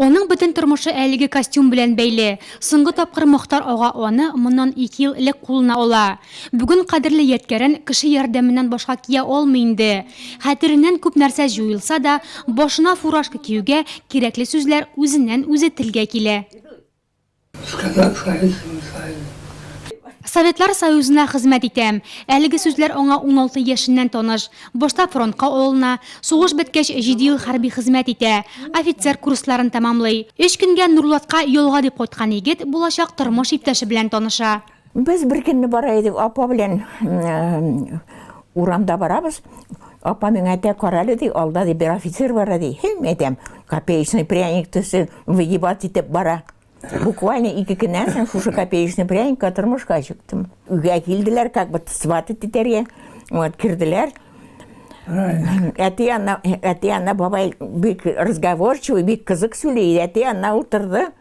Аның бөтен тормышы әлеге костюм белән бәйле. Соңгы тапкыр Мохтар ага аны моннан ике ел элек кулына ала. Бүген кадерле ядкәрен кеше ярдәменнән башка кия алмый инде. Хәтереннән күп нәрсә җуелса да, башына фуражка киюгә кирәкле сүзләр үзеннән-үзе телгә килә. Сказать Советскому Союзу. Советлар Союзына хезмәт итәм. Әлеге сүзләр аңа уналты яшеннән таныш. Башта фронтка алына, сугыш беткәч, җиде ел хәрби хезмәт итә. Офицер курсларын тәмамлый. Өч көнгә Нурлатка ялга дип кайткан егет булачак тормыш иптәше белән таныша. Без бер көнне бара идек, апа белән урамда барабыз. Апа миңа әйтә, карале ди, алда ди бер офицер бар ди. Һәм әйтәм, копеечный пряник төсе выгибать итеп бара. Буквально ике көннән соң шушы копеечный пряникка тормышка чыктым. Үгә килделәр, как бы сват итәргә. Вот кирделәр. Әти янына, әти янына бабай бик разговорчивый, бик кызык сөйли. Әти янына утырды.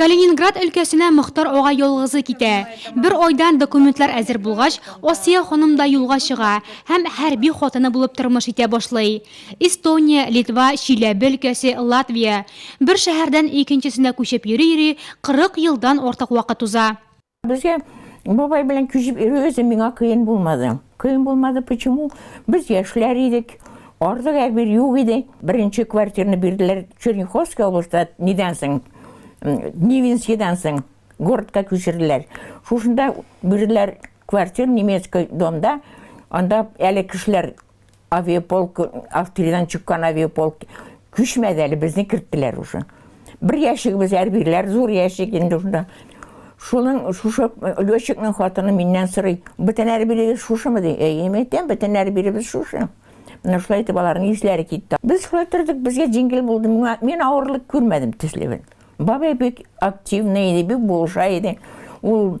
Калининград өлкәсенә Мохтар ага ялгызы китә. Бер айдан документлар әзер булгач, Асия ханым да юлга чыга һәм хәрби хатыны булып тормыш итә башлый. Эстония, Литва, Чиләбе өлкәсе, Латвия. Бер шәһәрдән икенчесенә күчеп йөри-йөри 40 елдан артык вакыт уза. Безгә бабай белән күчеп йөрү үзе миңа кыен булмады. Кыен булмады, почему? Без яшьләр идек. Ардык әбир юк иде. Беренче квартираны бирделәр Черняховский областьта, нидән соң, Невинскийдан соң городка күчерделәр. Шушында бирделәр квартир немецкий домда. Анда әле кешеләр Авиаполк, австриядан чыккан авиаполк күчмәде әле, безне керттеләр уже. Бер яшигебез әрбирләр, зур яшик инде шунда. Шуның шушы летчикның хатыны миннән сорый, бөтен әрбилегез шушымы ди? Әй, әйтәм, бөтен әрбилебез шушы. Менә шулай итеп аларның исләре китте. Без шулай тордык, безгә җиңел булды. Миңа мин авырлык күрмәдем төсле бит. Бабай бик активный иде, бик булыша иде. Ул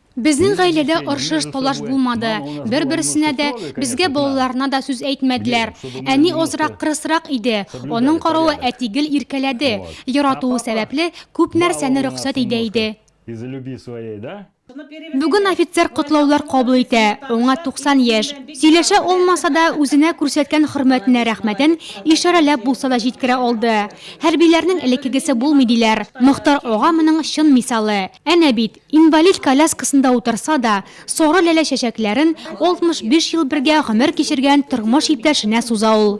Безнең гаиләдә оршыш-талаш булмады. Бер-берсенә дә, безгә балаларына да сүз әйтмәделәр. Әни азрак кырысрак иде. Аның каравы әти гел иркәләде. Яратуы сәбәпле, күп нәрсәне рөхсәт идә иде. Бүген офицер котлаулар кабул итә, аңа 90 яшь. Сөйләшә алмаса да, үзенә күрсәткән хөрмәтенә рәхмәтен ишарәләп булса да җиткерә алды. Хәрбиләрнең элеккегесе булмый, диләр. Мохтар ага моның чын мисалы. Әнә бит, Инвалид коляскасында утырса да, сары ләлә чәчәкләрен 65 ел бергә гомер кичергән тормыш иптәшенә суза ул.